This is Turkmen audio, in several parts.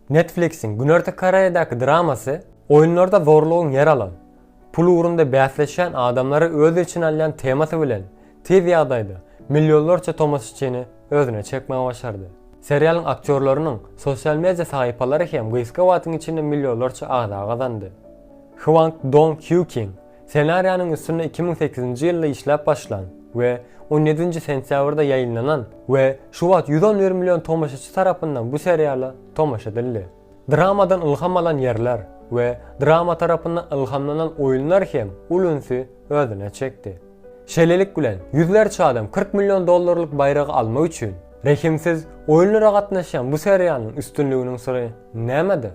Netflix-iň Günorta Koreýadaky dramasy oýunlarda zorlugyň ýer alan, pul ugrunda bäsleşýän adamlary öz içine alýan temasy bilen tiz ýagdaýda millionlarça tomaşaçyny özüne çekmegi başardy. Serialyň aktýorlarynyň sosial media sahypalary hem gysga wagtyň içinde millionlarça agza gazandy. Hwang Dong Hýu King Ssenariýanyň üstünde iki müň sekizinji ýylda işläp başlan we on ýedinji sentýabrda ýaýynlanan we şu wagt ýüz on bir million tomaşaçy tarapyndan bu seriala tomaşa edildi. Dramadan ylham alan ýerler we drama tarapyndan ylhamlanan oýunlar hem uly ünsi özüne çekdi. Şeýlelik bilen, ýüzlerçe adam kyrk million dollarlyk baýragy almak üçin rehimsiz oýunlara gatnaşýan bu seriýanyň üstünliginiň syry nämede?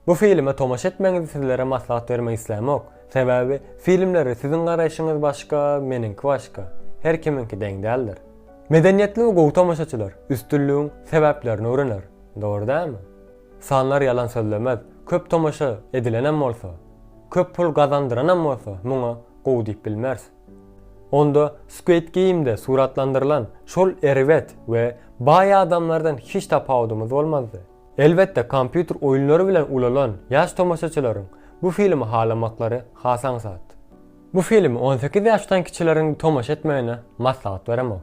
Bu filme tomaşa etmeňizi sizlere maslahat bermek islämok. Sebäbi filmlere siziň garaýşyňyz başga, meniňki başga. Her kimiňki deň däldir. Medeniýetli we gowy tomaşaçylar üstünligiň sebäplerini öwrener. Dogry dälmi? Sanlar ýalan sözlemez, köp tomaşa edilenem bolsa, köp pul gazandyranam bolsa muňa gowy diýip bilmeris. Onda Squid Game-de suratlandyrylan şol erbet we baý adamlardan hiç tapawudymyz bolmazdy. Elbetde kompýuter oýunlary bilen ulalan ýaş tomaşaçylaryň bu filmi halamaklary has aňsat. Bu filmi on sekiz ýaşdan kiçileriň tomaşa etmegine maslahat beremok.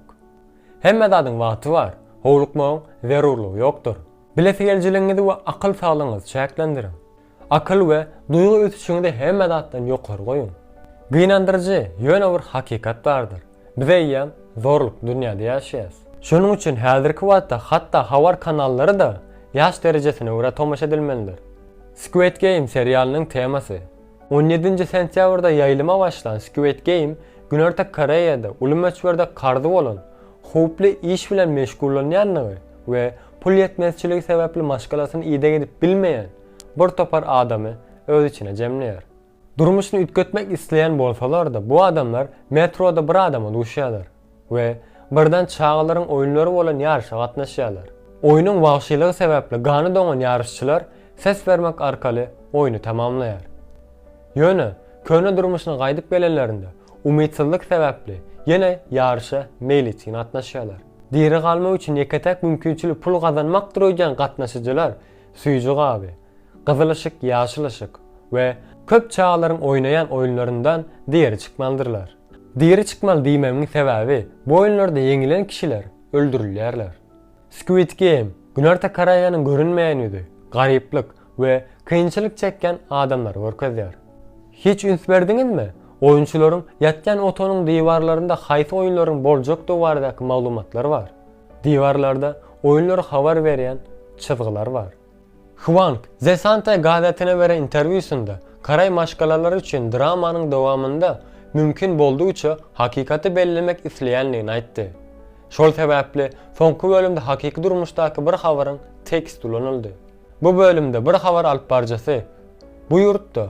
Hemme zadyň wagty bar, howlukmagyň zerurlygy ýokdur. Bilesigelijiligiňizi we akyl saglygyňyzy çäklendiriň. Akyl we duýgy ösüşiňizi hemme zatdan ýokary goýuň. Gynandyryjy, ýöne bir hakykat bardyr. Biz eýýäm zorlukly dünýäde ýaşaýarys. Şonuň üçin häzirki wagtda hatda habar kanallary-da ýaş derejesine görä tomaşa edilmelidir. Squid Game serialynyň temasy. On ýedinji sentýabrda ýaýlyma başlan Squid Game Günorta Koreýada uly möçberde karzy bolan, howply iş bilen meşgullanýandygy we pul ýetmezçiligi sebäpli maşgalasyny ideg edip bilmeýän bir topar adamy öz içine jemleýär. Durmuşyny üýtgetmek isleýän bolsalar-da, bu adamlar metroda bir adama duşýarlar. we birden çagalaryň oýunlary bolan ýaryşa gatnaşýarlar. Oýnuň wagşylygy sebäpli gany doňan ýaryşçylar ses bermek arkaly oýny tamamlaýar. Ýöne, köne durmuşyna gaýdyp gelenlerinde, umytsyzlyk sebäpli ýene ýaryşa meýletin gatnaşýarlar. Diri galmak üçin ýeke-täk mümkinçilik pul gazanmakdyr öýdýän gatnaşyjylar süýji gaby, gyzyl yşyk, ýaşyl yşyk we köp çagalaryň oýnaýan oýunlaryndan diri çykmalydyrlar. Diri çykmaly diýmegiň sebäbi, bu oýunlarda ýeňilen kişiler öldürilýärler. Squid Game, Günorta Koreýanyň görünmeýän ýüzi, garyplyk we kynçylyk çekýän adamlary görkezýär. Hiç üns berdiňizmi, oýunçylaryň ýatýan otagynyň diwarlarynda haýsy oýunlaryň boljakdygy baradaky maglumatlar bar? Diwarlarda oýunlary habar berýän çyzgylar bar. Hwang, The Santa gazetine beren interwýusynda, Koreý maşgalalary üçin dramanyň dowamynda mümkin boldugyça hakykaty bellemek isleýändigini aýtdy. Şol sebäpli soňky bölümde hakyky durmuşdaky bir habaryň tekst ulanyldy. Bu bölümde bir habar alyp baryjysy bu ýurtda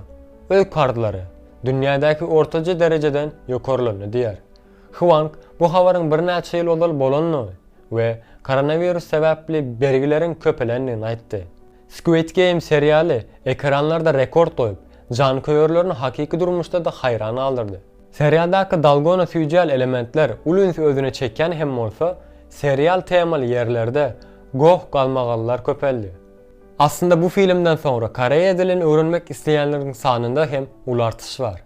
öý karzlary dünýädäki ortaja derejeden ýokarlandy diýýär. Hwang bu habaryň birnäçe ýyl ozal bolandygy we koronawirus sebäpli bergileriň köpelendigini aýtdy. Squid Game serialy ekranlarda rekord goýup, janköýerlerini hakyky durmuşda-da haýran galdyrdy. Serialdaky dalgona süýjäli elementler uly ünsi özüne çekýän hem bolsa, serial temaly ýerlerde goh-galmagallar köpeldi. Aslynda bu filmden soňra koreýa dilini öwrenmek isleýänleriň sanynda hem uly artyş bar.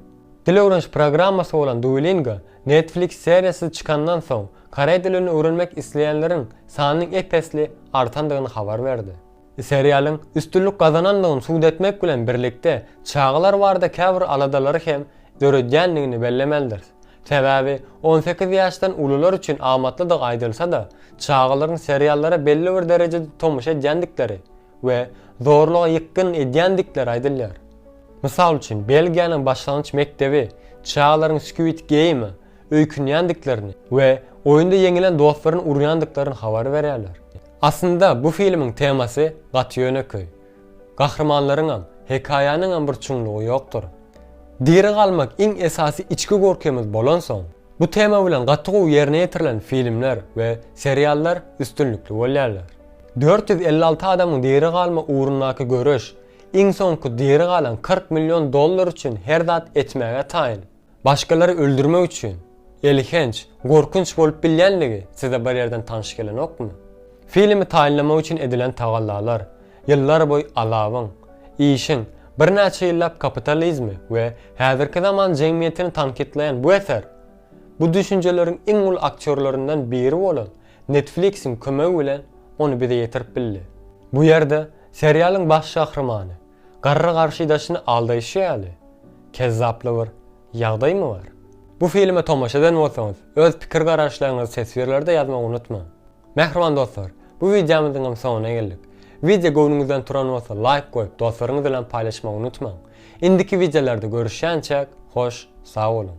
Dil öwreniş programmasy bolan Duolingo Netflix seriýasy çykandan soň, koreý dilini öwrenmek isleýänleriň sanynyň ep-esli artandygyny habar berdi. Seriýalyň üstünlik gazanandygyny subut etmek bilen birlikde, çagalar barada käbir aladalary hem döredýändigini bellemelidiris. Sebäbi on sekiz ýaşdan ulular üçin amatlydygy aýdylsa-da, çagalaryň seriallara belli bir derejede tomaşa edýändikleri we zorluga ýykgyn edýändikleri aýdylýar. Mysal üçin, Belgiýanyň başlangyç mekdebi çagalaryň Squid Game-e öýkünýändiklerini we oýunda ýeňilen dostlaryny urýandyklaryny habar berýärler. Aslynda bu filmiň temasy gaty ýönekeý. Gahrymanlaryňam, hekaýanyňam bir çuňlugy ýokdur. Diri galmak iň esasy içki gorkymyz bolansoň, bu tema bilen gaty gowy ýerine ýetirilen filmler we seriallar üstünlikli bolýarlar. Dört ýüz elli alty adamyň diri galma ugrundaky göreş, iň soňky diri galan kyrk million dollar üçin her zat etmäge taýyn. Başgalary öldürmek üçin. Elhenç, gorkunç bolup bilýänligi size bir ýerden tanyş gelenokmy? Filmi taýynlamak üçin edilen tagallalar, ýyllarboýy alawyň, işiň, birnäçe ýyllap kapitalizmi we häzirki zaman jemgyýetini tankytlaýan bu eser, bu düşünjeleriň iň uly aktýorlaryndan biri bolan Netflix-iň kömegi bilen ony bize ýetirip bildi. Bu ýerde serialyň baş gahrymany garry garşydaşyny aldaýşy ýaly kezzaply bir ýagdaýmy bar? Bu filme tomaşa eden bolsaňyz, öz pikir-garaýyşlaryňyzy teswirlerde ýazmagy unutmaň. Mähriban dostlar, bu wideomyzyň hem soňuna geldik. Wideo göwnüňizden turan bolsa laýk goýup, dostlaryňyz bilen paýlaşmagy unutmaň. Indiki wideolarda görüşýänçäk, hoş, sag boluň!